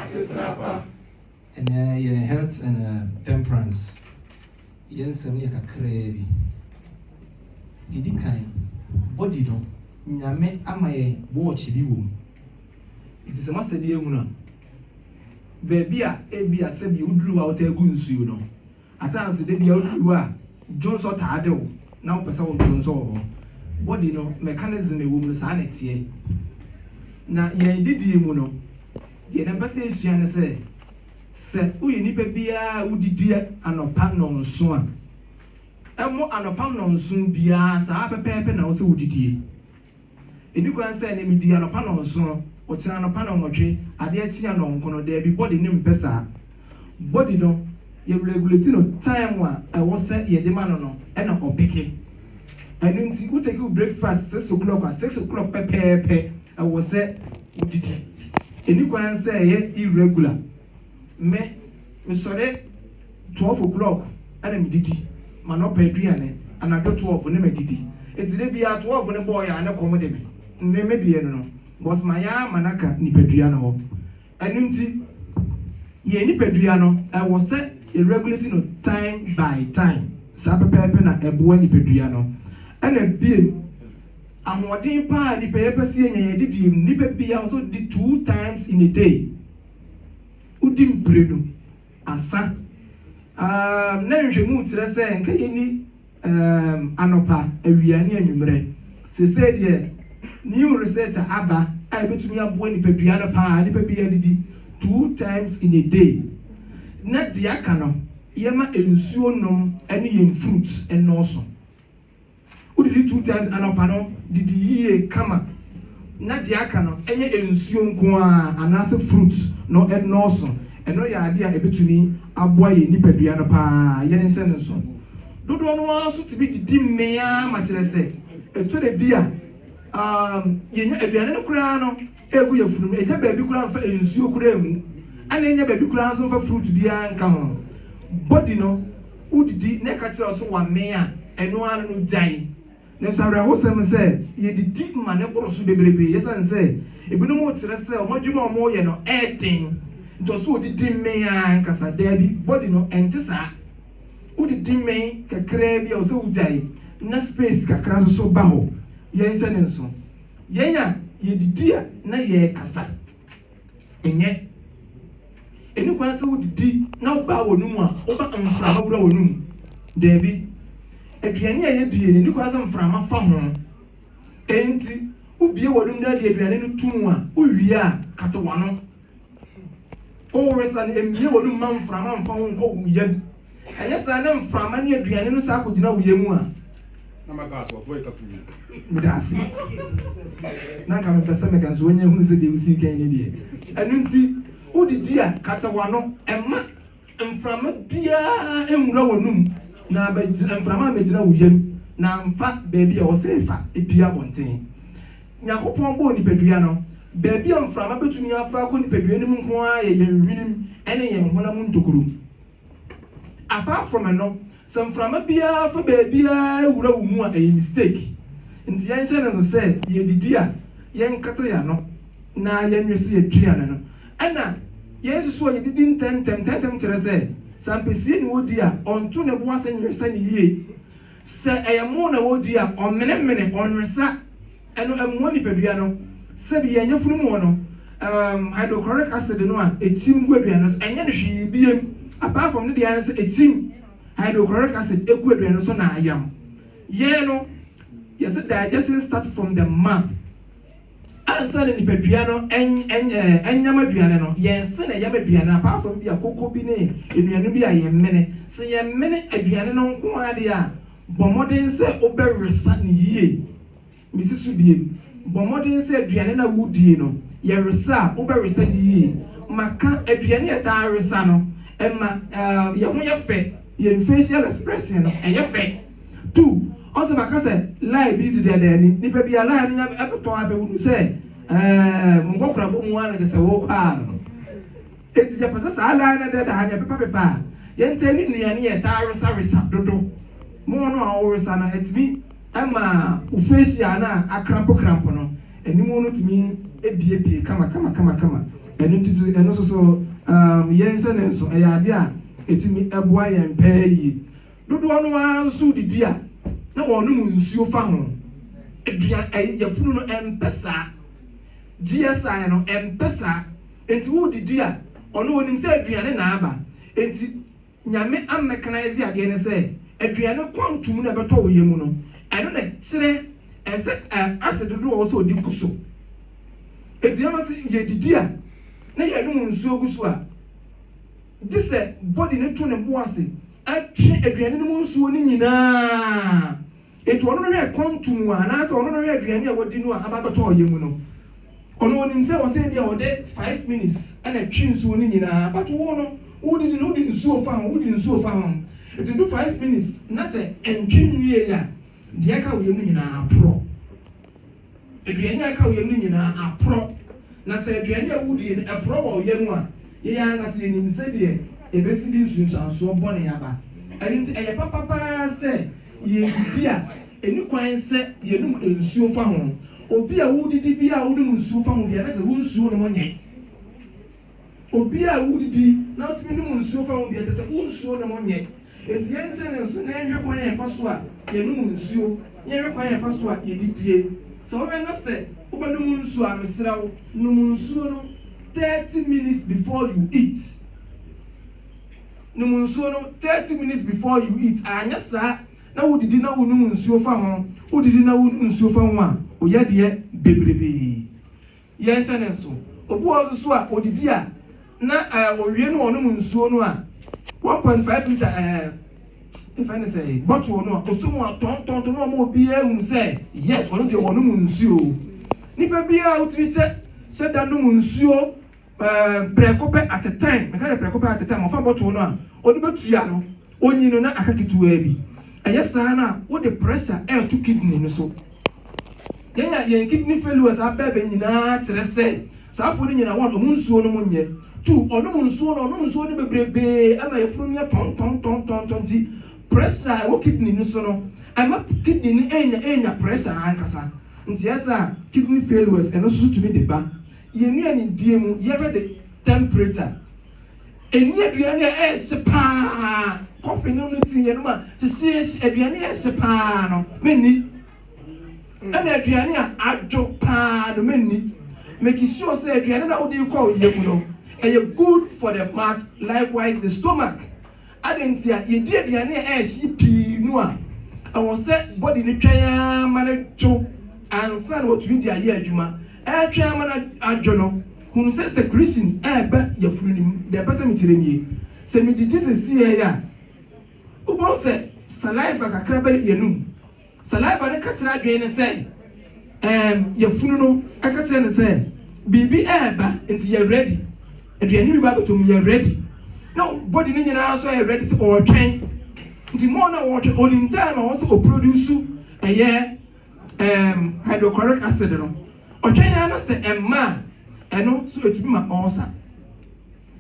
Asetra pa. Ɛnnɛ, yɛn Health and Temperance yɛn nsɛm yɛ kakraa bi. Deɛ ɛdi kan, body no, Nyame ama yɛn watch bi wɔ mu. Nti sɛ moasɛdeɛ ahunu a, baabi a ebia sɛdeɛ woduru hɔ a wotaa gu nsuo no, Atanse da bia wodu hɔ a dwonsɔ taa de wo na wopɛ sɛ wodwonsɔ wɔ hɔ. Body no mechanism a ɛwɔ mu no saa na ɛteɛ. Na yɛn adidie mu no deɛ na mpɛ sɛ yɛsua ne sɛ, sɛ woyɛ nipa biara a wodidi anɔpa nnɔnso a, ɛmmɔ anɔpa nnɔnso biara saa pɛpɛɛpɛ na ɛwɔ sɛ wodidie. Edikwan sɛ ne midi anɔpa nnɔnson, ɔkyena anɔpa nnɔnwɔtwe, adeɛ kye anɔnkono, daabi body no mpɛ saa. Body no yɛ regulate no time a ɛwɔ sɛ yɛde ma no no na ɔpeke. Ɛno nti wo take wo breakfast six o'clock a, six o'clock pɛpɛɛpɛ ɛwɔ sɛ wo didi. Ɛnikwan sɛ ɛyɛ irregular Me, mesɔre twelve o'clock na medidi m'anɔpa aduane, anadwo twelve na madidi. Enti da biara twelve no bɔɔeɛ a na kɔm de me. Nnɛ me deɛ no no, because mayɛ ara ma no aka nipadua no hɔ. Ɛno nti yɛn nipadua no ɛwɔ sɛ yɛ regulate no time by time. Saa pɛpɛɛpɛ na ɛboa nipadua no. Ɛna biom, ahoɔden pa ara a nipa yɛpɛ sɛ yɛnya yɛn adidie mu no, nipa biara wɔ sɛ ɔdidi two times in a day. wodi mprenu asa. Um, na nhwehwɛmu kyerɛ sɛ nka yɛni um, anɔpa, awia, ne anwummerɛ. Sesei deɛ, new research a aba a ɛbɛtumi aboa nipadua no paa, nipa bi adidi two times in a day, na deɛ aka no, yɛma nsuo nom ne yɛn fruits nnɔɔso. Wodidi two times anɔpa no, didi yie kama na deɛ aka no ɛnyɛ nsuo nko ara anaasɛ fruits no nnɔɔso. Ɛno yɛ adeɛ a ɛbɛtumi aboa yɛn nipadua no pa ara. Yɛnhyɛ no nso, dodoɔ no ara nso tumi didi mmee ara ma kyerɛ sɛ ɛtɔ da bi a yɛnya aduane no koraa no, Egu yafunu mu. Nnya baabi koraa mfa nsuo koraa ngu. Ɛna nnya baabi koraa nso mfa fruit biara nka ho. Body no, wodidi na ɛka kyerɛ wo so wamee a, ɛno ara no gyae. Nanso awerɛhosɛm ne sɛ, yɛdidi ma no boro so bebrebe. Esiane sɛ ebinom rekyerɛ sɛ wɔn adwuma a wɔreyɛ no yɛ den nti, ɔse odidi mee ara ankasa. Daabi, body no, ɛnte saa. Wodidi mee kakraa bi a, ɔsɛ wogyae na space kakra nso so ba hɔ. Yɛnhyɛ no nso. Yɛn a yɛdidi a na yɛrekasa. Ɛnyɛ. Ɛni kwan sɛ wodidi na wobaa w'ano mu a woba mframa wura w'ano mu. Daabi. Aduane a yɛdie no, ɛni kwan sɛ mframa fa ho. Enti, wobie w'ano mu na de aduane no to mu a, wowie a, kata w'ano. O wesane, mmue w'anom mma mframa mfa wo nkɔ wo yam. Ɛnyɛ saa na mframa ne aduane no saa kɔgyina wo yam a. Na mɛpa aso ɔfrɛ tapu yi. Meda ase. Na nka mepɛ sɛ meka nso wanya hunu sɛ deɛ wosii kan no deɛ. Ɛno nti, wodidi a, kata w'ano. Ɛmma Mframa biara nwura w'anom, na ammɛgyina, mframa ammɛgyina wo yam, na amfa baabi a ɛwɔ sɛ efa pue abɔnten. Nyankopɔn bɔɔ nipadua no. Baabi a mframa betumi afa akɔ nipadua no mu nko ara yɛ yɛn nhwenem ne yɛn honam ntokuru. Apart from ɛno, Sɛ mframa biara fa baabiara wura wo mu a ɛyɛ mistake. Nti yɛnhyɛ no nso sɛ yɛdidi a yɛnkata yɛn ano na yɛnwe so yɛaduane no. Ɛna yɛnsusu a yɛdidi ntɛmntɛm ntɛmntɛm kyerɛ sɛ, sɛ ampesie na ɔredi a ɔnto ne bo ase nwesa no yie. Sɛ ɛyɛ moo na ɔredi a ɔmmenemene, ɔnwesa. Ɛno mmoa nipadua no. Sɛbi yɛn yafunu mu hɔ no, um, hydrochloric acid no a ɛtim gu aduane no so, ɛnyɛ no hwee biem, apart from ne deɛ ara ne sɛ ɛtim hydrochloric acid gu aduane no so na ayam. Yɛn no, yɛse digestion start from the mouth. Ansa na nipadua no ɛnyam aduane no, yɛn se na ɛyam aduane no, apart from bi a koko bi ne nnuane bi a yɛn mene. Se yɛn mene aduane no nko ara deɛ a, bɔ mmɔden sɛ wobɛwesa no yie. Misi so due. Bɔ mmɔden sɛ aduane no a wudie no, yɛ resa a, wobɛwesa no yie. Ma ka aduane a ɛtaa resa no. Ɛma yɛn ho yɛ fɛ. Yɛn facial expression no, ɛyɛ fɛ. Tu ɔsɛ maka sɛ lie bi di dɛdɛ ni. Nipa bi a lie no nya bɛtɔ a bɛhunu sɛ ɛɛ mo nkɔkorabɔ mu ara na kyerɛ sɛ wokɔ ara no. Enti yɛpɛ sɛ saa daa na dɛdaa no yɛpepapepa a yɛntɛn ne nnuane a ɛtaa wesawesa dodo ma ɔno a ɔwowesa no atumi ma wo facial no a akrampokrampo no anim no tumi biebie kamakamakama. Ɛno nti so ɛno nso so umm yɛn hyɛ no nso ɛyɛ ade a ɛtumi boa yɛn paa yie. Dodoɔ no ara nso didi a na wɔnom nsuo fa ho. Aduan ɛyi yafunu no ɛmpɛ saa. GSI no ɛmpɛ saa. Enti woredidi a, ɔno onim sɛ aduane na aba. Enti Nyame ammɛkanaɛse adeɛ no sɛ aduane quantum no a ɛbɛtɔ wo yam no, ɛno na ɛkyerɛ ɛsɛ acid dodoɔ a ɔwɔ sɛ ɔde gu so. Enti Nyame se yɛdidi a na yɛnom nsuo gu so a, gyesɛ body no to ne bo ase twe aduane no mu nsuo no nyinaa. Enti ɔno no hwɛ ɛkɔm to mu a, anaasɛ ɔno no hwɛ aduane a wadi no a aba abɛtɔ ɔyɛ mu no. Ɔno onim sɛ ɔsɛ ebia ɔde five minutes na ɛtwe nsuo no nyinaa, but wo no, wodidi no wode nsuo fa ho, wode nsuo fa ho. Enti nto five minutes na sɛ ɛntwe nwieeɛ a, deɛ aka wo yam no nyinaa aporɔ. Aduane a ɛka wo yam no nyinaa aporɔ, na sɛ aduane a wodie no porɔ wɔ wo yam a, yɛn ankasa yɛnim sɛdeɛ ɛbɛsi de nsunsuansoɔ bɔne aba. Ɛno nti ɛyɛ papa pa ara sɛ yɛredidi a ɛnni kwan sɛ yɛnom nsuo fa ho. Obi a woredidi biara a wonom nsuo fa ho biara, na kyerɛ sɛ wonsuo nom nyɛ. Obi a wodidi na otumi nom nsuo fa ho deɛ, kyerɛ sɛ wo nsuo nom nyɛ. Enti yɛnhyɛ no nso na yɛnhwɛ kwan a yɛfa so a yɛnom nsuo, na yɛnhwɛ kwan a yɛfa so a yɛdidie. Sɛ wohwɛ na sɛ wobɛnom nsuo a, mesrɛ wo, nom nsuo no thirty minutes before you eat. Nom nsuo no thirty minutes before you eat. Anyɛ saa na wodidi na wonom nsuo fa ho, wodidi na wonom nsuo fa ho a, woyɛ adeɛ bebrebe. Yɛnhyɛ no nso. Obi wɔ hɔ nso so a, ɔdidi a, na eh, ɔwie no a ɔnom nsuo no a, 1.5 litre eh, yɛfrɛ no sɛ bottle no a, ɔsɔ mu a tɔntɔntɔ no ama obiara hunu sɛ yes, ɔno deɛ ɔnom nsuo. Nipa biara a wotumi hyɛ hyɛ da nom nsuo eh, prɛko pɛ at a time, meka sɛ prɛko pɛ at a time, ɔfa bottle no a, ɔde bɛtua no. Onyin no na aka ketewaa bi. Ɛyɛ saa no a, wode pressure reto kidney no so. Yɛn a yɛn kidney failures aba abɛn nyinaa kyerɛ sɛ saa fo no nyina hɔ a ɔnom nsuo nom nyɛ. Tu ɔnom nsuo no, ɔnom nsuo no bebrebee ɛma yafunu no yɛ tɔntɔntɔntɔntɔn nti pressure a ɛwɔ kidney no so no ɛma kidney no ɛnya ɛnya pressure ankasa nti ɛyɛ saa a kidney failures ɛno nso so tumi de ba. Yɛnnuanedie mu yɛhwɛ de temperature. Ɛnni aduane a ɛnse pa ara. Kɔfe nom no ti yɛnom a, te sees aduane a ɛnse pa ara no, menni. Ɛna aduane a adwo pa ara no, menni. Make sure sɛ aduane no a wode rekɔ wo yam no, ɛyɛ good for the mouth, likewise the stomach. Adɛn nti a yɛdi aduane a ɛyɛ hye pii no a ɛwɔ sɛ body no twɛn ara ma no dwo ansa na watumi de ayɛ adwuma? Ɛretwɛn ama no adwo no, hunu sɛ sɛ creasing reba yafunu no mu. Deɛ ɛpɛ sɛ mekyerɛ nie, sɛ medidi sɛsii ara yi a, wobɛhu sɛ saliva kakra bɛyɛ yɛn anom Saliva no ka kyerɛ adwene no sɛ ɛɛm, yafunu no ka kyerɛ no sɛ biribi ɛɛba nti yɛ ready, aduane bi ba abɛtɔ mu yɛ ready, na body no nyinaa nso ayɛ ready sɛ ɔɔtwɛn, nti more na ɔɔtwɛn ɔnim time a ɔwɔ sɛ ɔproduce ɛyɛ ɛɛm hydrochloric acid no, ɔtwɛn ara na sɛ ɛmma a ɛno nso ɛtumi ma ulcer.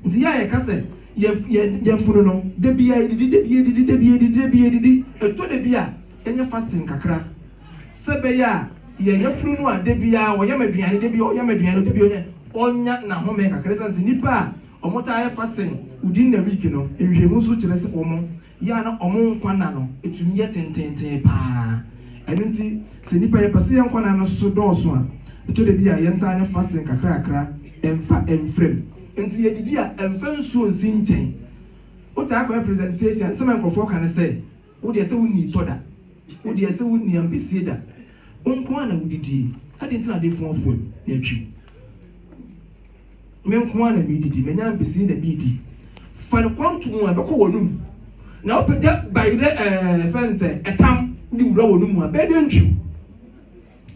Nti yɛ a yɛka sɛ yɛfunu no, dabiaa yɛdidi, dabiaa yɛdidi, dabiaa yɛdidi, dabiaa yɛdidi, ɛtɔ dabi a yɛnyɛ fasting kakra sɛ ɛbɛyɛ a yɛ yafunu no a dabiaa ɔyam aduane, dabiaa ɔyam aduane, dabiaa ɔyɛ ɔnya nahome kakra, ɛsiane sɛ nnipa a wɔtaa yɛ fasting within the week no nhwehwɛmu nso kyerɛ sɛ wɔn. yɛ a na wɔn nkwa nna no tumi yɛ tenteenten paa. Ɛno nti, sɛ nnipa yɛpɛ sɛ yɛn nkwa nna no so dɔɔso a, ɛtɔ da bi a yɛntaa ne fasting kakrakra mfa mfra mu. Enti yɛdidi a, mfa nsuo nsi nkyɛn. Wotaa kɔyɛ presentation, nsɛm a nkurɔfoɔ ka ne sɛ, Wo deɛ sɛ wonnii tɔ da. Wo deɛ sɛ wonnii ampesie da. Wo nko ara na wodidie. Adɛn nti na adefoɔ afu wo na atwi wo? Me nko ara na meredidi, manya ampesi na meredi. Fa no kɔm to wɔn a, ɛbɛkɔ wɔn mu, na wopagya bae dɛ ɛɛ, ɛfrɛ no sɛ, ɛtam, de wura wɔn mu a, ɛbɛyɛ dɛ ntwiw.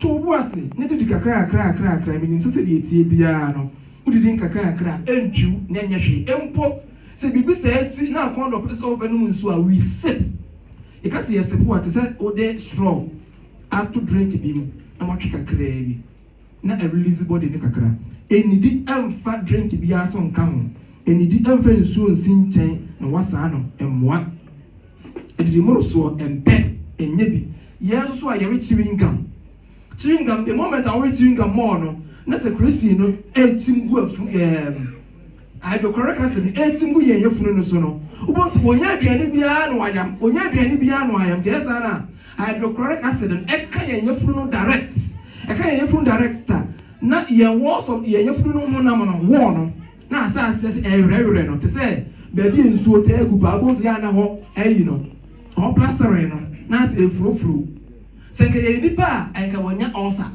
To wo bo ase na didi kakrakrakrakra. Minim sɛ sɛdeɛ ɛteɛ biara no, wodidi nkakrakra a, ɛntwiw na ɛnyɛ hwee mpo. Sɛ biribi saa si na akɔnnɔ pɛ sɛ wobɛnom nsuo a, we sip. Yɛka sɛ yɛsip a, te sɛ wode straw ato drink bi mu na woatwe kakraa bi. na ɛrelease body no kakra. Nnidi mfa drink biara so nka ho, nnidi mfa nsuo nsi nkyɛn na wasaa no mmoa. Adidi mmorosoɔ mpɛ, nyɛ bi. Yɛn nso so a yɛwe chewing gum, chewing gum the moment a wowe chewing gum more no na secretion no retim gu afu ɛɛm Ae, nokware ka se, ne etim gu yen yafunu no so no, wobehu se onya aduane biara na wayam, onya aduane biara na wayam. Nti ɛyɛ saa no a, ae, nokware ka se, no ɛka yen yafunu no direct, ɛka yen yafunu direct a, na yen wall so, yen yafunu no honam no, wall no, na asɛ aseɛ se ɛrewerɛwerɛ no, te se baabi a nsuo taa gu paa, wobehu se ya na hɔ ayi no, hɔ plasteree no, na asɛ ɛrefurofuro. Se nka yɛyɛ nnipa a, ae, nka wanya ulcer.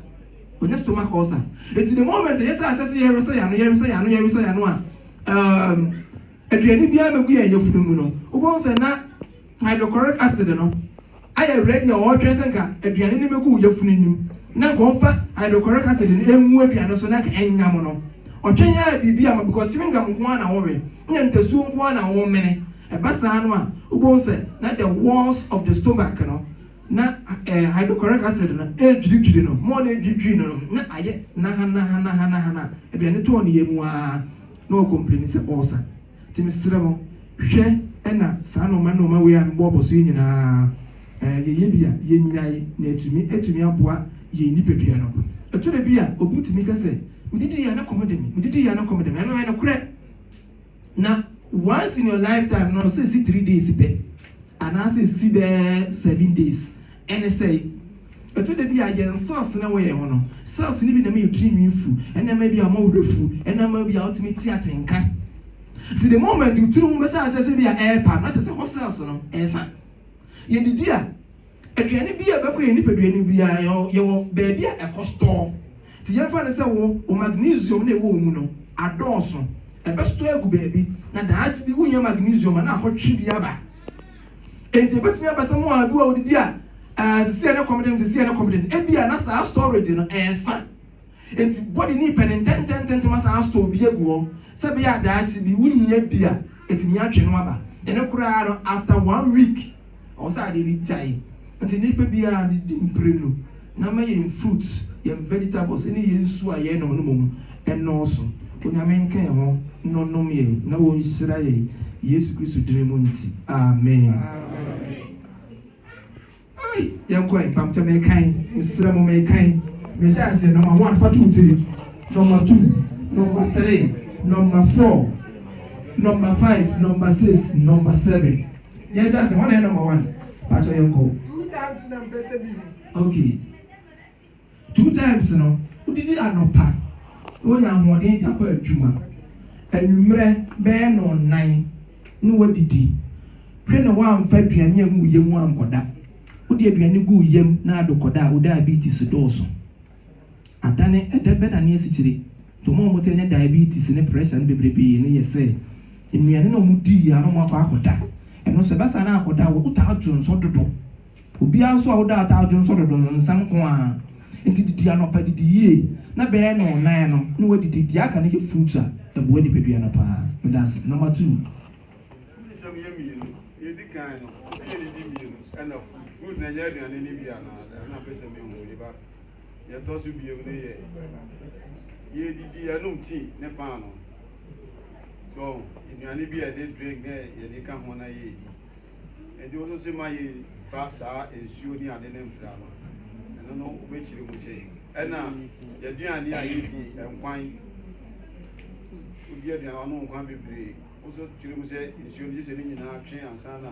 Ɔnya stomach ulcer. Enti the moment a yɛhyɛ aseɛ sɛ yɛresɛ yɛn ano, yɛresɛ yɛn ano, yɛresɛ yɛn ano a, um, aduane biara mmɛgu yɛn yafunu mu no, wobɛhu sɛ na hydrochloric acid no ayɛ ready a ɔretwɛn sɛ nka aduane no mmɛgu wo yafunu no mu, na nka ɔmfa hydrochloric acid no ɛngu aduane so na nka ɛnyam no. Ɔtwɛn ara biribi ama because chewing gum nko ara na wowe, na ntasuo nko ara na womene. Ɛba saa no a, wobɛhu sɛ na the walls of the stomach no Na ɛɛ hydrochloric acid no ɛredwiridwiri no, mɔɔ no ɛredwiridwiri no no, na ayɛ nahanahanahanahana, aduane tɔɔ ne yam ara na ɔrecomplaini sɛ ulcer. Nti mesrɛ mo, hwɛ na saa nnoɔma nnoɔma wei a mebɔɔbɔ so yi nyinaa ɛɛ yɛyɛ bi a, yɛnyae na atumi atumi aboa yɛn nipadua no. Ɛtɔ da bi a, obi tumi ka sɛ, medidi yɛ a na kɔm de me, medidi yɛ a na kɔm de me, ɛno ɛyɛ nokorɛ. Na once in your lifetime no ɔsɛ esi three days pɛ anaasɛ esi bɛyɛ seven days. Ɛne sɛ, ɛtɔ da bi a yɛn cells no a ɛwɔ yɛn ho no, cells no bi na ɛma yɛn tirinwi fu, ɛna ɛma ebia mo werɛ fu, ɛna ɛma ebia wotumi te atenka. Nti the moment wo tiri ho bɛsɛ asɛ sɛ ebia ɛrepa no, na kyerɛ sɛ hɔ cells no ɛresa. Yɛdidi a. Aduane bi a ɛbɛkɔ yɛn nipadua no mu biara no, yɛwɔ baabi a ɛkɔ store. Nti yɛmfa no sɛ wo wo magnesium no a ɛwɔ wo mu no adɔɔso. Ɛbɛ store agu baabi, na daakye bi wonnya magnesium a na akɔtwe bi aba. Enti ɛbɛtumi aba sɛ mmoa bi wɔ a wodidi a, ɛɛ, sesie a ne kɔm de no, sesie a ne kɔm de no. Ebia na saa storage no ɛresa. Enti body no repɛ no ntɛntɛntɛntɛm asan astore bi agu hɔ sɛ ɛbɛyɛ a daakye bi wonhia bi a, atumi atwe no aba. Ɛno koraa no, after one week, Ɔwɔ sɛ adeɛ no gyae. Nti nipa biara no di mprenu na ma yɛn fruits, yɛn vegetables ne yɛn nsuo a yɛn nom no mmom nnɔɔso. Onyame nka yɛn ho na ɔnom yɛn na ɔnhyira yɛn Yesu Kristo dini mu nti. Amen. Ei! Yɛn kɔ ɛ. Mpampkyɛ me kan. Mesrɛ mo me kan. Me hyɛ aseɛ number one fa to wo tiri, number two, number three, number four, number five, number six, number seven. Yɛnhyɛ ase, hɔ na ɛyɛ number one, pakyɛw yɛnkɔ. Two times na mpɛ sɛ mihu. Ok, two times no, wodidi anɔpa na wonya ahoɔden de akɔ adwuma, anwummerɛ bɛyɛ nnɔnnan na woadidi, hwɛ na woamfa aduane angu wo yam ankɔda, wode aduane gu wo yam na adokɔda a, wo diabetes dɔɔso. Ada ne ɛdɛ bɛda ne asikyire. Nti ɔmo a ɔmo taa nya diabetes ne pressure no bebrebee no yɛ sɛ nnuane no a ɔmo di yie a na ɔmo akɔ akɔda. Ɛno so ɛbɛsan na akɔda a wo taa dwo nsɔ dodo. Obiara nso a wo daa taa dwo nsɔ dodo no nsɛm nko ara. Nti didi anɔpa didi yie na bɛyɛ nnɔnnan no na wadidi. Deɛ aka no yɛ fruits a ɛboa nipadua no paa. Meda ase. Number two. Fruit nsɛm yɛ mmienu. Deɛ ɛdi kan no, ɛsɛ yɛdidi mmienu ɛna fruit. Fruit no ɛnyɛ aduane no bi anaa? Ɛno na mpɛ sɛ mehu. Meba. Nea ɛtɔ so bio no yɛ yɛredidi, yɛnom tea ne paanoo. So nnuane bi a yɛde drink na yɛde ka ho na yɛredi. Nti wo nso se ma yɛmfa saa nsuo ne ade no mfra no. Ɛno no wobɛkyerɛ mu se ɛna yɛaduane a yɛdi nkwan. Wodi aduane a ɔno nkwan bebree. Wo nso kyerɛ mu sɛ nsuo no gye sɛ ne nyinaa twe ansa na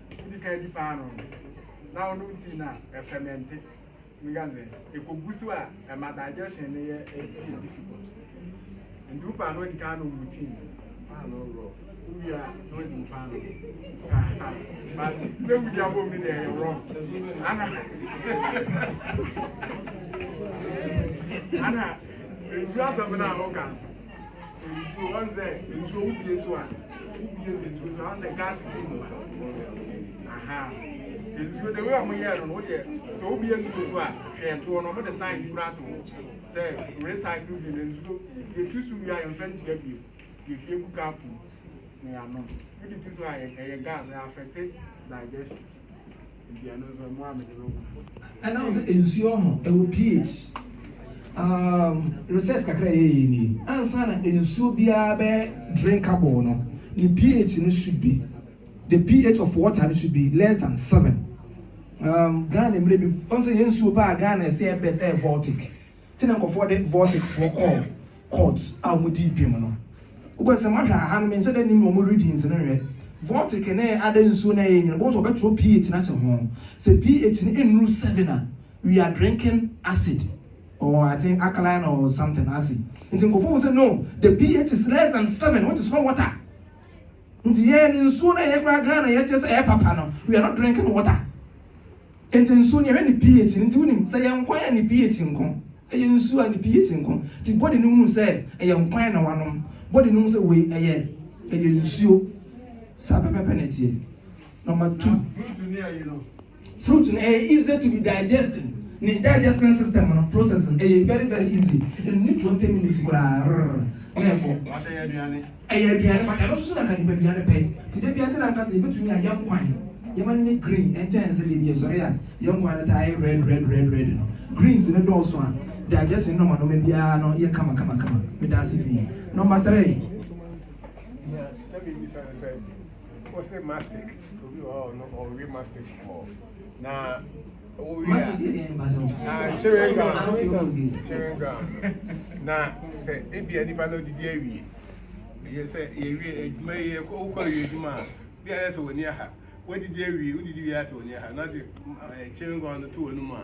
Wodi kan di paanoo no, na ɔno nti na ɛfɛmɛnte. Megadze ekogu so a, ɛma digestion no yɛ ɛyɛ difficult. Nti wo paanoo di kan nom mu tea, paanoo raw. Wowie a, na wodi wo paanoo. Aha, but sɛ wodi abom no deɛ ɛyɛ wrong. Ana, ana, nsuo asɛm no a woka no. nsuo ɔn sɛ nsuo wobie so a wobie de nsuo so ɔn sɛ gas fi mu aha nsuo de wei a wɔyɛ no no woyɛ sɛ wobie nsuo so a hwɛ toɔ no wɔde sign bi kora to hɔ sɛ recycle bi na nsuo yɛtu so wie a yɛmfa ntua bio yɛhwie gu kapo na yɛanom wode tu so a ɛyɛ gas ɛyɛ affected digestion Ɛnam sɛ nsuo ho ɛwɔ pH um research kakra a yɛyɛ nie ansa na nsuo biara bɛ drinkable no ne pH no should be the pH of water no should be less than seven um Ghana mmerɛ bi wɔn sɛ yɛn nsuo paa Ghana ɛsɛ ɛbɛ sɛ ɛyɛ Baltic te na nkurɔfoɔ de Vorsikfoɔ kɔɔ court a wɔn dii bem no. Wokɔ sɛ mohwɛ a, ha no menhyɛ da nnim wɔn readings no nhwɛ. Vortik ne ada nsuo no a ɛyɛ nyini, wobɛhu sɛ wɔbɛtwerɛ pH no ahyɛ ho. Sɛ pH no nnuru seven a, we are drinking acid or I think alkaline or something acid. Nti nkurɔfoɔ hu sɛ no, the pH is less than seven which is not water. Nti yɛn nsuo no a yɛkora Ghana yɛkyerɛ sɛ ɛyɛ papa no, we are not drinking water. Enti nsuo no yɛhwɛ ne pH no nti wonim sɛ ɛyɛ nkwan a ne pH nko, ɛyɛ nsuo a ne pH nko nti body no hunu sɛ ɛyɛ nkwan na wanom, body no hu sɛ wei ɛyɛ ɛyɛ nsuo. Saa pɛpɛpɛ na ɛteɛ. Number two, fruit no ɛyɛ easy to be digested, ne digestion system no process no ɛyɛ very very easy, ɛnni twenty minutes koraa rrrr na ɛkɔ. Ɛyɛ aduane pa, ɛno nso so na anka nipadua no pɛ. Nti da bi ara te na anka sɛ yɛbɛtumi a yɛn nkwan, yɛn ani ne green nkyɛn sɛ baabi yɛsɔre a yɛn nkwan no taa yɛ red red red red no. Greens no dɔɔso a, digestion nɔma nɔma biara no yɛ kama kama kama. Meda ase pii. Nɔma three. Nea na mebisa no sɛ, wose mastic, obi wɔ hɔ a ɔno ɔwe mastic kɔɔ. na wowie a na chewing gum chewing gum na sɛ ebia nipa no didi awie yɛ sɛ yɛwie adwuma yi yɛ wokɔ wie adwuma a bi a yɛ sɛ wɔni aha wodidi awie wodidi wie a sɛ wɔni aha na ɔde chewing gum no to wɔn mu a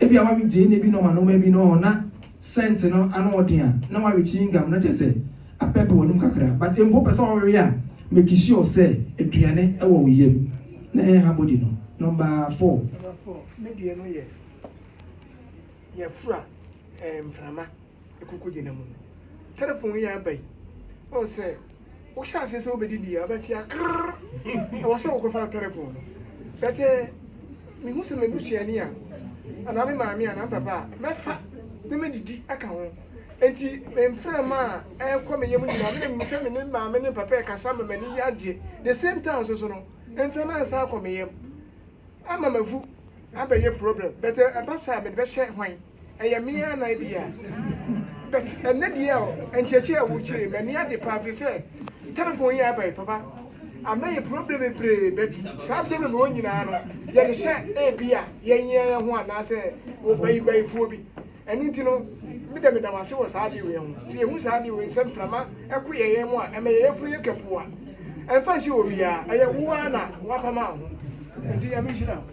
Ebia wawe gyeene bi nom anoma bi no na scent no ano ɔden a na wawe chewing gum no kyesɛ apɛp w'anom kakra but mpo pɛsɛ ɔwewe a make sure sɛ aduane ɛwɔ wo yam na ɛnha body no number four. Number four me deɛ no yɛ yɛfra mframa. ɛkɔkɔgyina mu no, telephone yi a aba yi, ɔhu sɛ wohyɛ aseɛ sɛ wobɛdidi a wobɛte a krrr ɛwɔ sɛ wokɔfa telephone no bɛtɛ mehu sɛ m'abusuani a anaa me maame anaa mpapa a mɛfa na medidi aka ho nti mframa a ɛkɔ me yam nyinaa mene mu sɛ me ne maame ne papa ɛkasa ma m'ani yagye the same time soso no mframa nsa akɔ me yam ama mavu abɛyɛ problem bɛtɛ ɛba saa mede bɛhyɛ hwan Ɛyɛ me ara na ebia. But ɛnnɛ deɛ ɔ, nkyerɛkyerɛ a wokyerɛ yi, m'ani agye paa firi sɛ telephone yi a aba yi, papa, ama yɛn problem bebree, but saa problem wɔ nyinaa no, yɛde hyɛ ebia yɛn yɛn yɛn ho anaasɛ ɔbayibayifoɔ bi. Ɛno nti no, me dɛ meda wo ase wɔ saa adeɛ wei ho. Sɛ yɛhu saa adeɛ wei sɛ mframa ɛko yɛn yɛn mu a, ɛma yɛn yafunu yɛ kapuwa. Ɛmfa nhyɛ obiara, ɛyɛ wo ara na wapam a ho. Nti Nyame nhyira wo.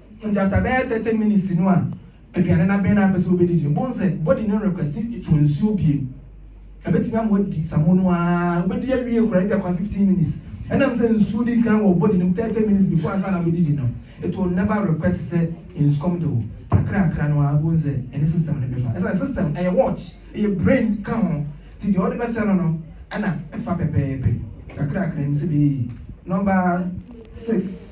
Ntsi after bɛyɛ thirty minutes no a aduane no abɛn na apɛ sɛ obedidi no, bohu sɛ body no request for nsuo bio. Ebetumi ama wadi samu no ara, obedi awie koraa ebia kwa fifteen minutes. Ɛnam sɛ nsuo di kan wɔ body no mu thirty minutes before ansa na obedidi no, it will never request sɛ nsu kɔm de wo. Kakrakra no ara bohu sɛ ɛne system no bɛfa. Ɛsiane system ɛyɛ watch, ɛyɛ brain ka ho, nti deɛ ɔde bɛsɛ no no ɛna ɛfa pɛpɛɛpɛ. Kakrakra no sɛ bee number six.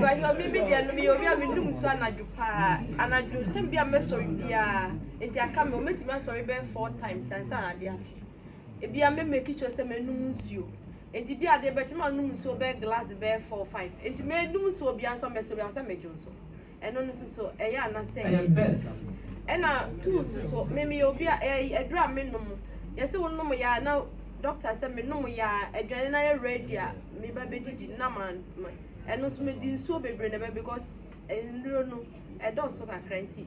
Ibrahima mi mi deɛ no mi yɛ obi a mi num nsu anadwo paa anadwo tɛm bi a mɛ sɔre biara nti aka mi wɔn tumi asɔre bɛyɛ four times ansa na ade akyi ebi a mɛ mɛ kitchen sɛ mɛ num nsuo nti bi adeɛ bɛkyɛ mɛ num nsuo bɛyɛ glass bɛyɛ four five nti mɛ num nsuo bi ansa mɛ sɔre ansa mɛ dwo nso. Ɛno no soso ɛyɛ a na sɛ. Ɛyɛ best. Ɛna tum soso me meyɛ obi a ɛɛ aduru a me nom yɛse wo nom yɛ a na doctor sɛ me nom yɛ a aduane no ayɛ ready a me ba bɛ didi na ma ma ɛno nso me di nsuo bebree na ɛbɛ because nnuro no ɛdɔɔso kakra nti.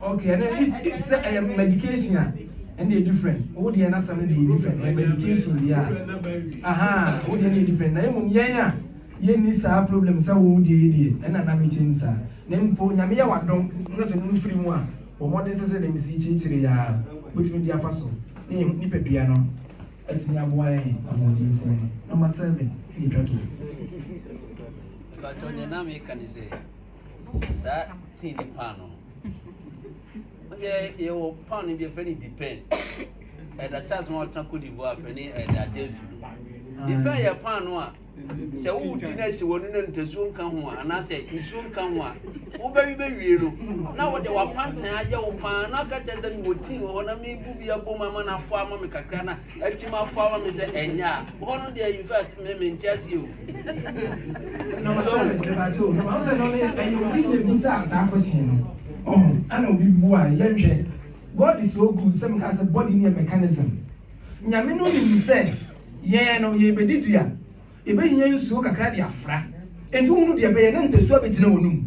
Ok ɛnɛ if if sɛ ɛyɛ medication a ɛndeɛ different wo deɛ n'asɛm no deɛ different ɛyɛ medication deɛ a ahaa wo deɛ deɛ different na mmom yɛn a yɛnni saa problem sɛ wo deɛ yɛ deɛ ɛna na bɛkyɛm saa na mpo nyame yɛ wadom na sɛ no firi mu a bɔ mmɔden sɛ sɛ deɛ mesi kyirikyiri a wobɛtumi de afa so ne yɛ nipadua no atumi aboa yɛn ahoɔden nsɛm no nɔma sɛ me ne twa to But on the name, can you say? saa tii ne paano no sɛ yɛwɔ paano bi ɛfɛ ne depend ɛda charles ma ɔtena cote divoire pɛ ne ɛda adansu no depend yɛ paano a sɛ wodi no asi w'ani no ntasuo nka ho a anaasɛ nsuo nka ho a wobɛwe bɛwie no na wode w'apantan ayɛ wo paa na aka kyerɛ sɛ mewɔ tii wɔ hɔ na mebu bi abom ama no afoa ama me kakra na Atim afɔ ama me sɛ ɛnyɛ a hɔ no deɛ infact me mente aseɛ o. Number seven, mepatse o, number seven no ne ɛyɛ obi na ebisaa saa question no, ɔho, ana obi buae, yɛnhwɛ, God is so good sɛ mekaa sɛ body no yɛ mechanism, Nyame no nim sɛ yɛn no yɛrebɛdidi a, yɛbɛhia nsuo kakra de afra, enti wohunu deɛ ɛbɛyɛ na ntasuo abɛgyina w'anum,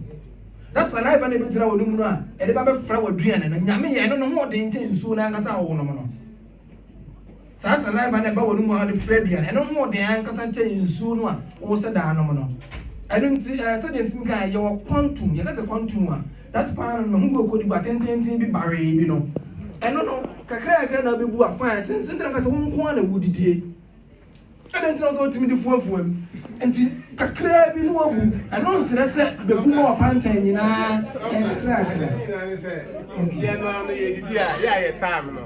na saliva no ɛbɛgyina w'anum no a ɛde ba bɛfra w'aduane no, Nyame yɛn no ne ho ɔden kyɛn nsuo no ankasa a wonom no. Saa saliva no a ɛba wɔn mu ara de fra aduan. Ɛno ho den ankasa kyɛn nsuo no a wohyɛ da nom no. Ɛno nti, eh, sɛdeɛ Nsimi kaeɛ, yɛwɔ quantum. Yɛka sɛ quantum a, that paano no, ne ho bɔ kɔdibu atententen bi baree bi no. Ɛno no, kakrakra na wobɛbu afa a ɛsensɛn, nti na meka sɛ wo nko ara na wodidie. Ɛdɛn nti na ɔsɛ ɔtumi de fuafuam? Nti kakraa bi no abu. Ɛno nkyerɛ sɛ bebu ma ɔpantan nyinaa nkrakra. Nti yɛn no ano yɛ didi a yɛ a yɛ taam no.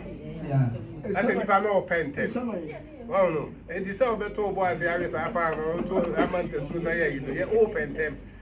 Ɛsɛ nipa no ɔpɛ ntɛm. Wɔn no nti sɛ ɔbɛto ɔbɔ ase awe saa paa no ɔto ama ntasuo na yɛ yi no yɛ ɔpɛ ntɛm.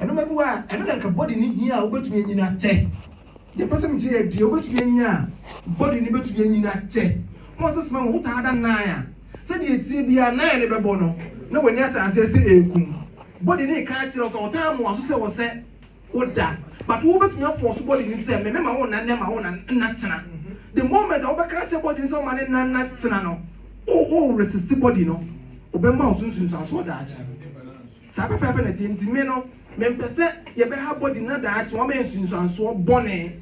Nnoɔma bi wɔ a ɛno na anka body no hia a wobɛtumi anyini akyɛ. Deɛ mpɛ sɛ mekyɛ yɛ deɛ wobɛtumi anya a body no bɛtumi anyini akyɛ. Ho asɛ sima wɔ wo taa da nan a sɛdeɛ ɛteɛ biara nan no bɛbɔ no na w'ani asɛ aseɛ sɛ ɛrekum. Body no reka akyerɛ wo sɛ ɔtaa mmoa so sɛ wɔ sɛ wo da but wo bɛtumi afɔɔso body no sɛ me me ma wo nna nnɛ ma wo nna nna kyena. The moment a wo bɛka akyerɛ body no sɛ ɔma ne nna nna kyena no wo wo resist body no ɔbɛma wo so nsunsuansoɔ daakye. Saa pɛpɛɛpɛ na ɛteɛ. Enti me no, mempɛ sɛ yɛbɛha body na daakye wama yɛn nsunsuansoɔ bɔne.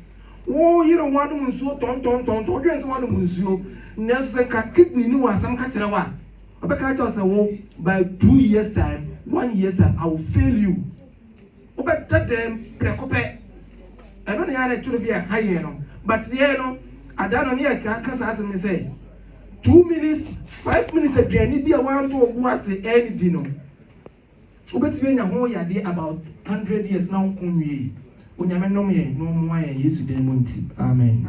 Wo yere ho anom nsuo tɔntɔntɔntɔn, wodwene sɛ woanom nsuo. Nanso sɛ nka kidney ne wɔ asɛm ka kyerɛ wo a, ɔbɛka akyerɛ wo sɛ wo by two years time, one years time, I will fail you. Wobɛda dɛm prɛko pɛ. Ɛno na yɛn ara na ɛtoro bi a ɛha yɛn no. But yɛn no, ada no ne yɛka ka saa asɛm yi sɛ, Two minutes, five minutes aduane bi a wɔantɔ wo bo ase annidi no, wobɛtumi anya ho yadeɛ about hundred years na wonko nwiei. Onyame nnom yɛn na ɔmmoa yɛn Yesu din mu nti, amen.